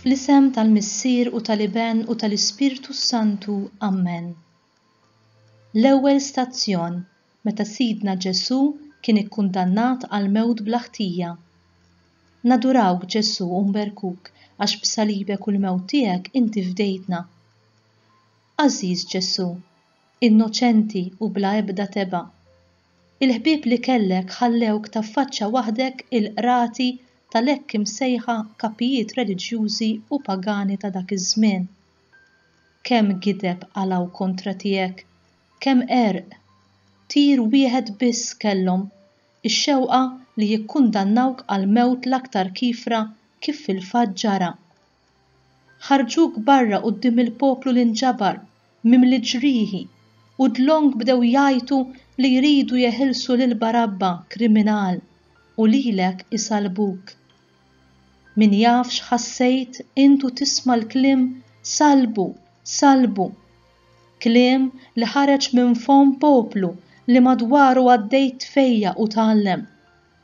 Fl-isem tal-Missier u tal-Iben u tal-Ispirtu Santu. Amen. L-ewwel stazzjon meta Sidna Ġesù kien ikkundannat għal mewt bla ħtija. Nadurawk Ġesù u nberkuk għax b'salibek u l-mewt tiegħek inti fdejtna. Għażiż Ġesù, innoċenti u bla ebda tebgħa. Il-ħbieb li kellek ħallewk taffaċċa waħdek il-qrati tal-hekk imsejħa kapijiet reliġjużi u pagani ta' dak iż-żmien. Kemm gideb qalgħu kontra tiegħek, kemm għerq! Tir wieħed biss kellhom, ix-xewqa li jikkundannawk għall-mewt l-aktar kiefra kif fil-fatt ġara. Ħarġuk barra quddiem il-poplu li nġabar, mimli ġrieħi, u dlonk bdew jgħajtu li jridu jeħilsu lil Barabba, kriminal, u lilek isallbuk. Min jaf x'ħassejt int u tisma' l-kliem Sallbu! Sallbu! Kliem li ħareġ minn fomm poplu li madwaru għaddejt tfejjaq u tgħallem.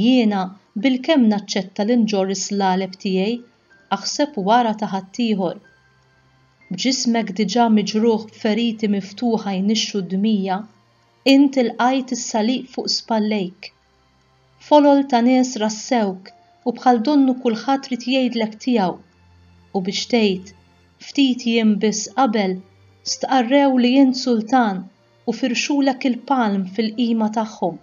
Jiena bilkemm naċċetta li nġorr is-slaleb tiegħi, aħseb wara ta' ħaddieħor. B'ġismek diġà miġrugħ b'feriti miftuħa jnixxu d-dmija, int ilqajt is-salib fuq spallejk. Folol ta' nies rassewk u bħal donnu kulħadd ried jgħidlek tiegħu. U biex tgħid, ftit jiem biss qabel, stqarrew li int sultan u firxulek il-palm fil-qima tagħhom.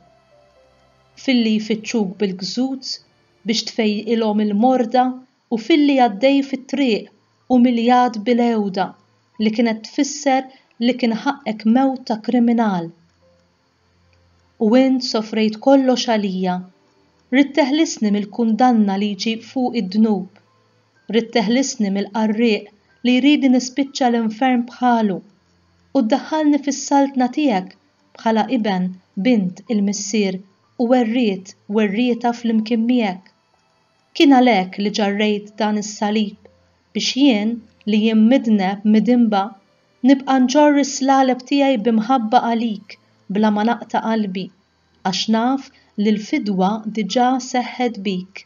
filli jfittxuk bil-gżuz biex tfejqilhom il-morda u filli għaddej fit-triq umiljat bil-għewda li kienet tfisser li kien ħaqqek mewt ta' kriminal. U int sofrejt kollox għalija. Ridt teħlisni mill-kundanna li jġib fuqi d-dnub. Ridt teħlisni mill-qarrieq li jridni nispiċċa l-infern bħalu u ddaħħalni fis-saltna tiegħek bħala iben, bint, il-missier u werriet, werrieta flimkien miegħek. Kien għalhekk li ġarrejt dan is-salib biex jien, li jien midneb, midinba, nibqa' nġorr is-slaleb tiegħi bi mħabba għalik bla ma naqta' qalbi, għax naf li l-fidwa diġà seħħet bik.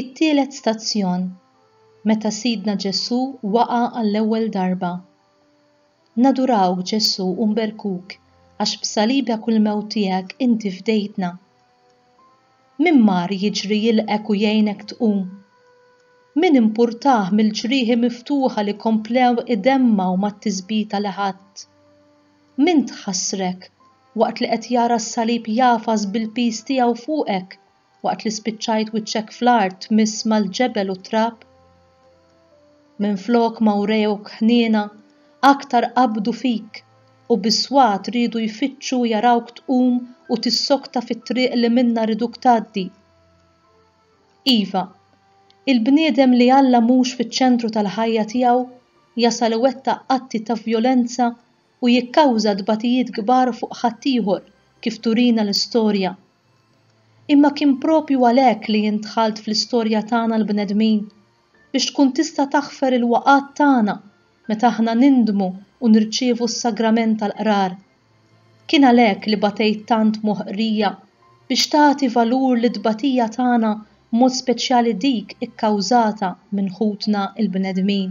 It-tielet stazzjon, meta Sidna Ġesù waqa' għall-ewwel darba. Nadurawk Ġesù u nberkuk għax b'salibek u l-mewt tiegħek inti fdejtna. Min mar jiġri jilqgħek u jgħinek tqum? Min impurtah mill-ġrieħi miftuħa li komplew idemmgħu mat-tisbita li ħadt? Min tħassrek waqt li qed jara s-salib jagħfas bil-piż tiegħu fuqek waqt li spiċċajt wiċċek fl-art tmiss mal-ġebel u t-trab? Minflok ma wrewk ħniena, aktar qabdu fik u bis-swat riedu jfittxu jarawk tqum u tissokta fit-triq li minnha riduk tgħaddi. Iva, il-bniedem li Alla mhux fiċ-ċentru tal-ħajja tiegħu jasal iwettaq atti ta' vjolenza u jikkawża tbatijiet kbar fuq ħaddieħor kif turina l-istorja. Imma kien proprju għalhekk li jien dħalt fl-istorja tagħna l-bnedmin biex tkun tista' taħfer il-waqgħat tagħna meta aħna nindmu u nirċievu s-Sagrament tal-Qrar. Kien għalhekk li batejt tant moħqrija biex tagħti valur lit-tbatija tagħna b'mod speċjali dik ikkawżata minn ħutna l-bnedmin.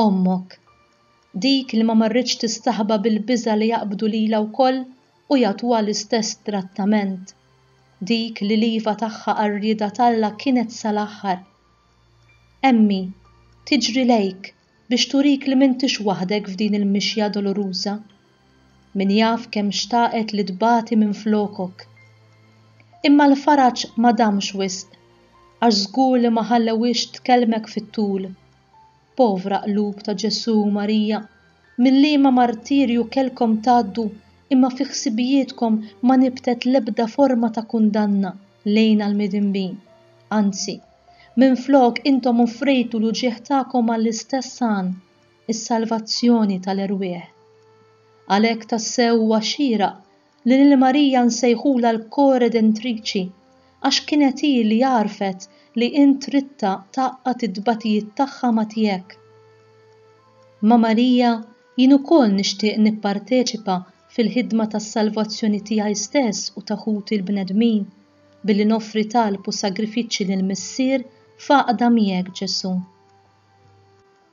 Ommok, dik li ma marritx tistaħba bil-biża' li jaqbdu lilha wkoll u jagħtuha l-istess trattament, dik li l-iva tagħha għar-rieda t'Alla kienet sal-aħħar. Emmi, tiġri lejk biex turik li m'intix waħdek f'din il-mixja doluruża. Min jaf kemm xtaqet li tbati minflokok. Imma l-faraġ ma damx wisq għax żgur li ma ħallewhiex tkellmek fit-tul. Povra qlub ta' Ġesù u Marija, mil-liema martirju kellkom tgħaddu imma fi ħsibijietkom ma nibtet l-ebda forma ta' kundanna lejn għall-midinbin. Anzi, minflok intom offrejtu l-uġigħ tagħkom għall-istess għan. is-salvazzjoni tal-erwieħ. Għalhekk tassew huwa xieraq li lil Marija nsejħulha l-Koredentriċi għax kienet hi li għarfet li int ridtha tgħaqqad it-tbatijiet tagħha ma' tiegħek. Ma' Marija jien ukoll nixtieq nipparteċipa fil-ħidma tas-salvazzjoni tiegħi stess u ta' ħuti l-bnedmin billi noffri talb u sagrifiċċji lill-Missier f'għaqda miegħek Ġesù.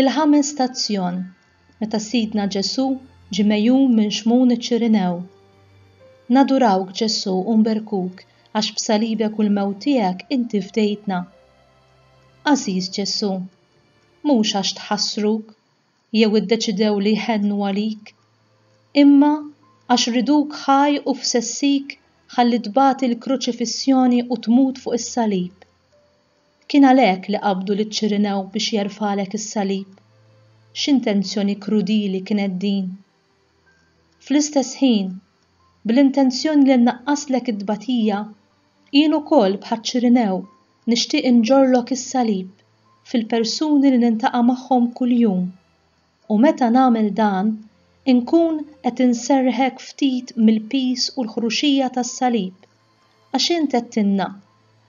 Il-ħames stazzjon, meta Sidna Ġesù ġie megħjun minn Xmun iċ-Ċirinew. Nadurawk Ġesù u nberkuk għax b'salibek u l-mewt tiegħek inti fdejtna. Għażiż Ġesù, mhux għax tħassruk, jew iddeċidew li jħennu għalik, imma għax riduk ħaj u f'sessik ħalli tbati l-kruċifissjoni u tmut fuq is-salib. Kien għalhekk li qabdu liċ-Ċirinew biex jerfgħalek is-salib. X'intenzjoni krudili kienet din! Fl-istess ħin, bl-intenzjoni li nnaqqaslek it-tbatija, Jien ukoll, bħaċ-Ċirinew, nixtieq inġorrlok is-salib fil-persuni li niltaqa' magħhom kuljum, u meta nagħmel dan, inkun qed inserrħek ftit mill-piż u l-ħruxija tas-salib, għax int għedtilna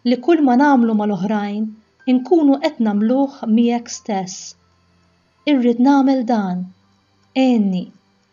li kulma nagħmlu mal-oħrajn inkunu qed nagħmluh miegħek stess. Irrid nagħmel dan. Għinni.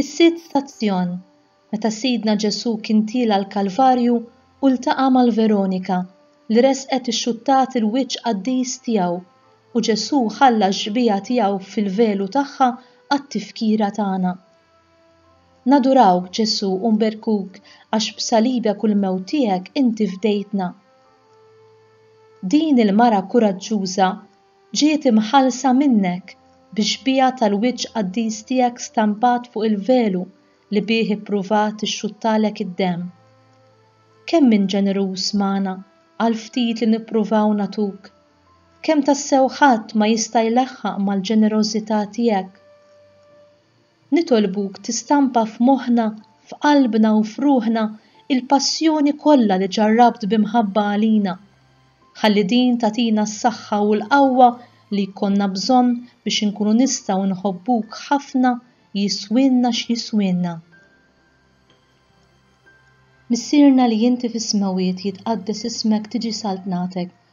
Is-Sitt Stazzjon, Meta Sidna Ġesù kien tiela' l-Kalvarju u ltaqa' mal-Veronika, li resqet ixxuttat il-wiċċ qaddis tiegħu, u Ġesù ħalla x-xbieha tiegħu fil-velu tagħha għat-tifkira tagħna. Nadurawk, Ġesù, u nberkuk għax b'salibek u l-mewt tiegħek inti fdejtna. Din il-mara kuraġġuża Ġiet imħallsa minnek bix-xbieha tal-wiċċ qaddis tiegħek stampat fuq il-velu li bih ippruvat ixxuttalek id-demm. Kemm int ġeneruż magħna għall-ftit li nippruvaw nagħtuk! Kemm tassew ħadd ma jista' jlaħħaq mal-ġenerożità tiegħek! Nitolbuk tistampa f'moħħna, f'qalbna u f'ruħna l-passjoni kollha li ġarrabt bi mħabba għalina. Ħalli din tagħtina s-saħħa u l-qawwa li jkollna bżonn biex inkunu nistgħu nħobbuk ħafna jiswielna x'jiswielna. Missierna li inti fis-smewwiet jitqaddes ismek tiġi saltnatek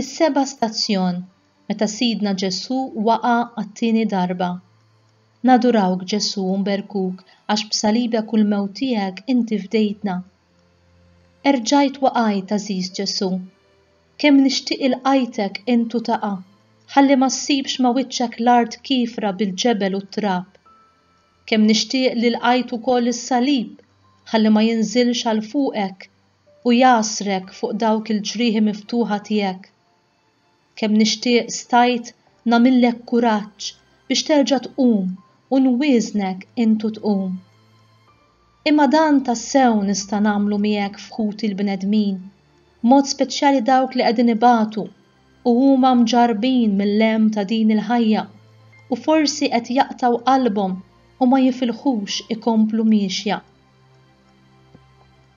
Is-seba' stazzjon, Meta Sidna Ġesù waqa' għat-tieni darba. Nadurawk Ġesù u nberkuk għax b'salibek u l-mewt tiegħek inti fdejtna. Erġajt waqajt għażiż Ġesù. Kemm nixtieq ilqajtek int u taqa', ħalli ma ssibx ma' wiċċek l-art kiefra bil-ġebel u t-trab. Kemm nixtieq li lqajt ukoll is-salib, ħalli ma jinżilx għal fuqek u jagħsrek fuq dawk il-ġrieħi miftuħa tiegħek. Kemm nixtieq stajt nagħmillek kuraġġ biex terġa' tqum u nwieżnek int u tqum. Imma dan tassew nista' nagħmlu miegħek f'ħuti l-bnedmin, b'mod speċjali dawk li qegħdin ibatu u huma mġarrbin mill-hemm ta' din il-ħajja u forsi qed jaqtgħu qalbhom u ma jifilħux ikomplu miexja.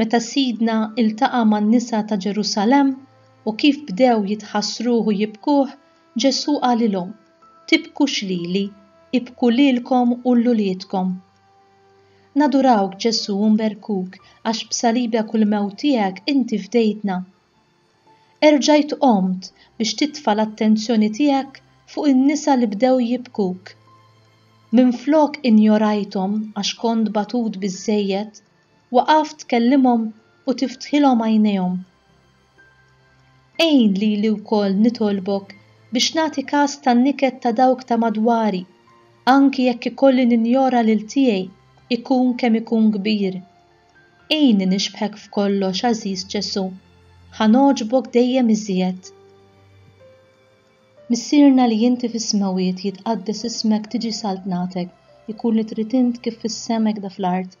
meta Sidna iltaqa' man-nisa ta' Ġerusalemm u kif bdew jitħassruh u jibkuh, Ġesù qalilhom, Tibkux lili, ibku lilkom u 'l uliedkom. Nadurawk, Ġesù, u nberkuk, għax b'salibek u l-mewt tiegħek inti fdejtna. Erġajt qomt biex titfa' l-attenzjoni tiegħek fuq in-nisa li bdew jibkuk. Minflok injorajthom għax kont batut biżżejjed, waqaf tkellimhom u tiftħilhom għajnejhom. Għin lili wkoll nitolbok biex nagħti kas tan-niket ta' dawk ta' madwari, anki jekk ikolli ninjora lil tiegħi ikun kemm ikun kbir. Għinni nixbħek f'kollox, għażiż Ġesù. Ħa nogħġbok dejjem iżjed. Missierna li inti fis-smewwiet jitqaddes ismek tiġi saltnatek, ikun li trid int kif fis-sema hekk da fl-art.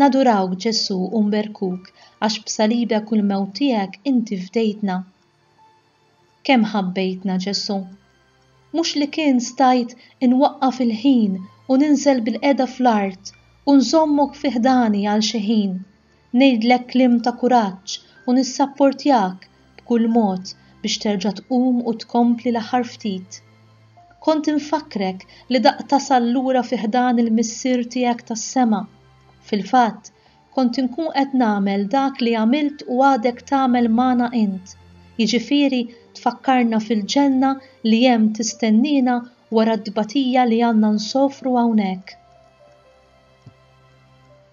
Nadurawk Ġesù u nberkuk għax b'salibek u l-mewt tiegħek inti fdejtna. Kemm ħabbejtna Ġesù. Mhux li kien stajt inwaqqaf il-ħin u ninżel bil-qiegħda fl-art u nżommok fi ħdani għal xi ħin, ngħidlek kliem ta' kuraġġ u nissapportjak b'kull mod biex terġa' tqum u tkompli l-aħħar ftit. Kont infakkrek li daqt tasal lura fi ħdan il-Missier tiegħek tas-sema. Fil-fatt, kont inkun qed nagħmel dak li għamilt u għadek tagħmel magħna int, jiġifieri tfakkarna fil-ġenna li hemm tistenniena wara t-tbatija li għandna nsofru hawnhekk.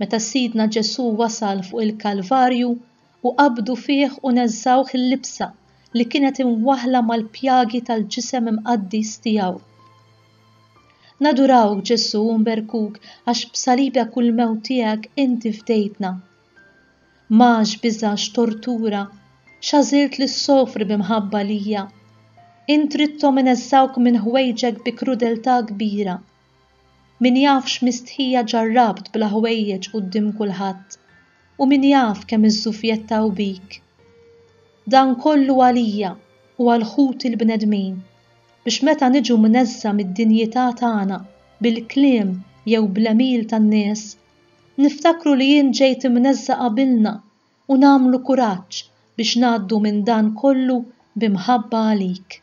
Meta Sidna Ġesù wasal fuq il-Kalvarju u qabdu fih u neżżgħuh il-libsa li kienet imwaħħla mal-pjagi tal-ġisem imqaddies tiegħu. Nadurawk Ġesù u nberkuk għax b'salibek u l-mewt tiegħek inti fdejtna. M'għax biża' x'tortura, x'għażilt li ssofri bi mħabba lija. Int ridthom ineżżgħuk minn ħwejġek bi krudeltà kbira. Min jaf x'mistħija ġarrabt bla ħwejjeġ quddiem kulħadd, u min jaf kemm iżżufjettaw bik. Dan kollu għalija u għal ħuti l-bnedmin, biex meta niġu mneżża' mid-dinjità tagħna bil-kliem jew bl-għemil tan-nies, niftakru li int ġejt imneżża' qabilna u nagħmlu kuraġġ biex ngħaddu minn dan kollu b'imħabba għalik.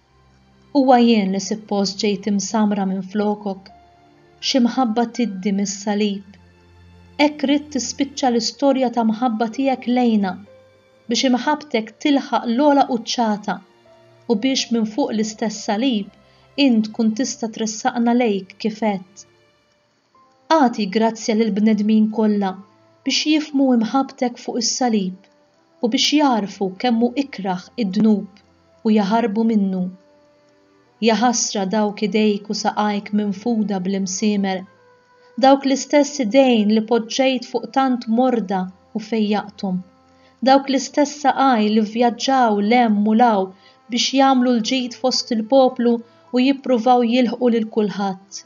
Huwa jien li sippost ġejt imsammra minflokok, xi mħabba tiddi mis-salib. Hekk ridt tispiċċa l-istorja ta' mħabba tiegħek lejna, biex imħabbtek tilħaq l-ogħla quċċata u biex minn fuq l-istess salib int tkun tista' tressaqna lejk kif għedt. Agħti grazzja lill-bnedmin kollha biex jifhmu imħabbtek fuq is-salib u biex jagħrfu kemm hu ikrah id-dnub u jaħarbu minnu. Jaħasra dawk idejk u saqajk minfuda bl-imsiemer, dawk l-istess idejn li poġġejt fuq tant morda u fejjaqthom, dawk l-istess saqaj li vvjaġġaw 'l hemm u 'l hawn biex jagħmlu l-ġid fost il-poplu u jippruvaw jilħqu lil kulħadd.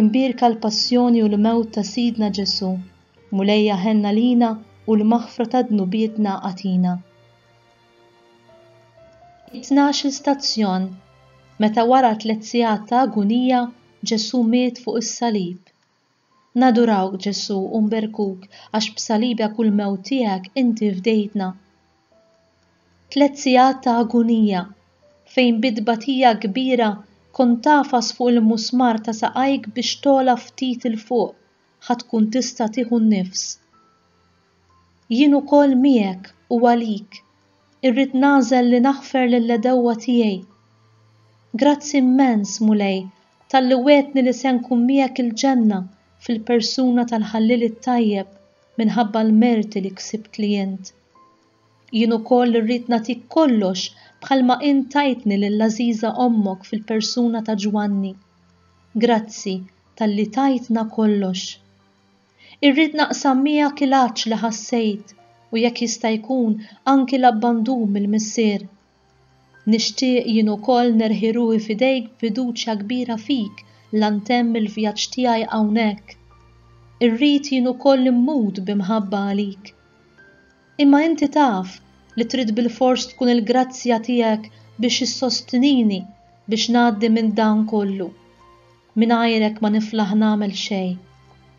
Imbierka l-passjoni u l-mewt ta' Sidna Ġesù, Mulejja ħenn għalina u l-maħfra ta' dnubietna agħtina. It-tnax-il stazzjon, Meta wara tliet sigħat ta' agunija, Ġesù miet fuq is-salib. Nadurawk, Ġesù, u nberkuk, għax b'salibek u l-mewt tiegħek inti fdejtna. Tliet sigħat ta' agunija, fejn bi tbatija kbira kont tagħfas fuq il-musmar ta' saqajk biex togħla ftit 'il fuq ħa tkun tista' tieħu n-nifs. Jien ukoll miegħek u għalik irrid nagħżel li naħfer lill-għedewwa tiegħi. Grazzi immens, Mulej, talli wegħdtni li se nkun miegħek il-ġenna fil-persuna tal-Ħalliel it-tajjeb. minħabba l-merti li ksibtli int. Jien ukoll irrid nagħtik kollox bħalma int tajtni lill-għażiża ommok fil-persuna ta' Ġwanni. Grazzi talli tajtna kollox. Irrid naqsam miegħek il-għatx li ħassejt u jekk jista' jkun anki l-abbandun mill-Missier. Nixtieq jien ukoll nerħi ruħi f'idejk b'fiduċja kbira fik la ntemm il-vjaġġ tiegħi hawnhekk. Irrid jien ukoll immut bi mħabba għalik. Imma inti taf li trid bilfors tkun il-grazzja tiegħek biex issostnini biex ngħaddi minn dan kollu. Mingħajrek ma niflaħ nagħmel xejn.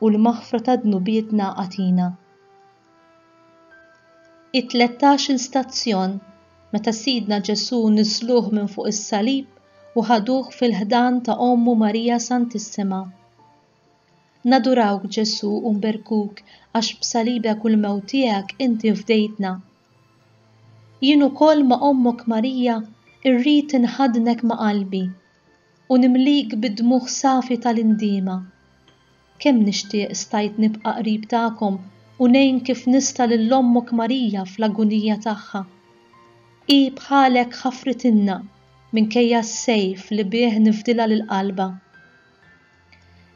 u l-maħfra ta' dnubietna agħtina. It-tlettax-il stazzjon, meta Sidna Ġesù niżżluh minn fuq is-salib u ħaduh fil-ħdan ta' Ommu Marija Santissima. Nadurawk Ġesù u nberkuk għax b'salibek u l-mewt tiegħek inti fdejtna. Jien ukoll ma' Ommok Marija rrid inħaddnek ma' qalbi. U nimlik bid-dmugħ safi tal-indiema. Kemm nixtieq stajt nibqa' qrib tagħkom u ngħin kif nista' lil Ommok Marija fl-agunija tagħha. Hi bħalek ħafritilna minkejja s-sejf li bih nifdilha lil qalbha.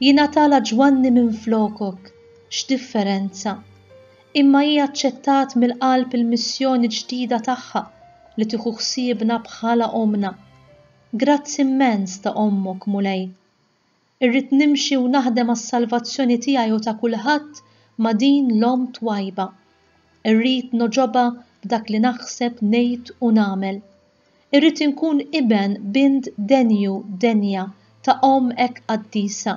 Jingħatalha Ġwanni minflokok, x'differenza! Imma hi aċċettat mill-qalb il-missjoni ġdida tagħha li tieħu ħsiebna bħala ommna. Grazzi immens ta' Ommok, Mulej. Irrid nimxi u naħdem għas-salvazzjoni tiegħi u ta' kulħadd ma' din l-Omm twajba. Irrid nogħġobha b'dak li naħseb, ngħid u nagħmel. Irrid inkun iben, bint denju, denja, ta' Omm hekk qaddisa.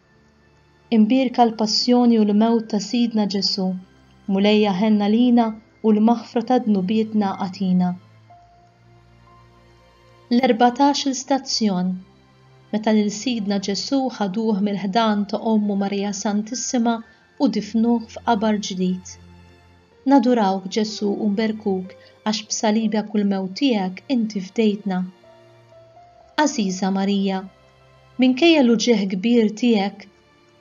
Imbierka l-passjoni u l-mewt ta' Sidna Ġesù, Mulejja ħenn għalina u l-maħfra ta' dnubietna agħtina. L-erbatax-il stazzjon, Meta lil Sidna Ġesù ħaduh mill-ħdan ta' ommu Marija Santissima u difnuh f'qabar ġdid. Nadurawk Ġesù u nberkuk għax b'salibek u l-mewt tiegħek inti fdejtna. Għażiża Marija, Minkejja l-uġigħ kbir tiegħek,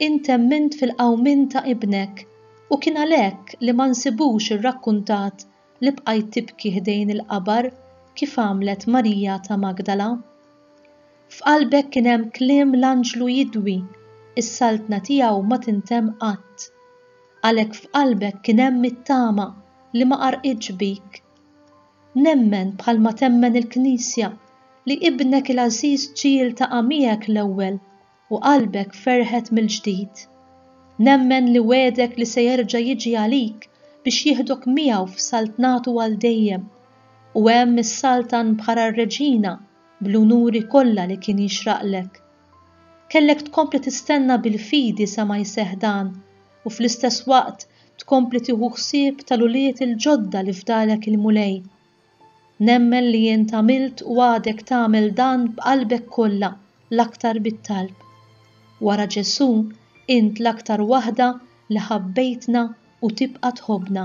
int emmint fil-qawmien ta' Ibnek, u kien għalhekk li ma nsibux irrakkuntat li bqajt tibki ħdejn il-qabar kif għamlet Marija ta' Magdala. F'qalbek kien hemm kliem l-anġlu jidwi, Is-saltna tiegħu ma tintemm qatt. Għalhekk f'qalbek kien hemm it-tama li ma qarqitx bik. Nemmen, bħalma temmen il-Knisja, li Ibnek il-għażiż ġie iltaqa' miegħek l-ewwel u qalbek ferħet mill-ġdid. Nemmen li wegħdek li se jerġa' jiġi għalik biex jieħdok miegħu f'saltnatu għal dejjem, u hemm issaltan bħala r-Reġina bl-unuri kollha li kien jixraqlek. Kellek tkompli tistenna bil-fidi sa ma jseħħ dan, u fl-istess waqt tkompli tieħu ħsieb tal-ulied il-ġodda li fdalek il-Mulej. Nemmen li int għamilt u għadek tagħmel dan b'qalbek kollha, l-aktar bit-talb. Wara Ġesù, int l-aktar waħda li ħabbejtna u tibqa' tħobbna.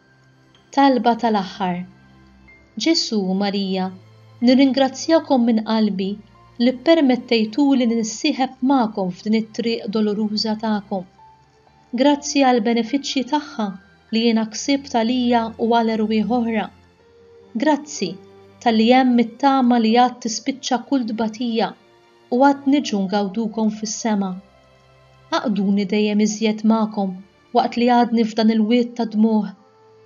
Talba tal-Aħħar Ġesù u Marija, nirringrazzjakom minn qalbi li ppermettejtuli li nissieħeb magħkom f'din it-triq doloruża tagħkom. Grazzi għall-benefiċċji tagħha li jiena ksibt għalija u għal erwieħ oħra. Grazzi talli hemm it-tama li għad tispiċċa kull tbatija u għad niġu ngawdukom fis-sema. Għaqqduni dejjem iżjed magħkom waqt li għadni f'dan il-wied tad-dmugħ,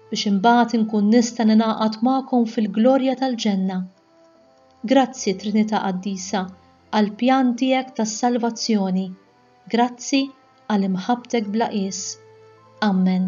biex imbagħad inkun nista' ningħaqad magħkom fil-glorja tal-ġenna. Grazzi, Trinità Qaddisa, għall-pjan tiegħek tas-salvazzjoni. Grazzi għal imħabbtek bla qies. Ammen.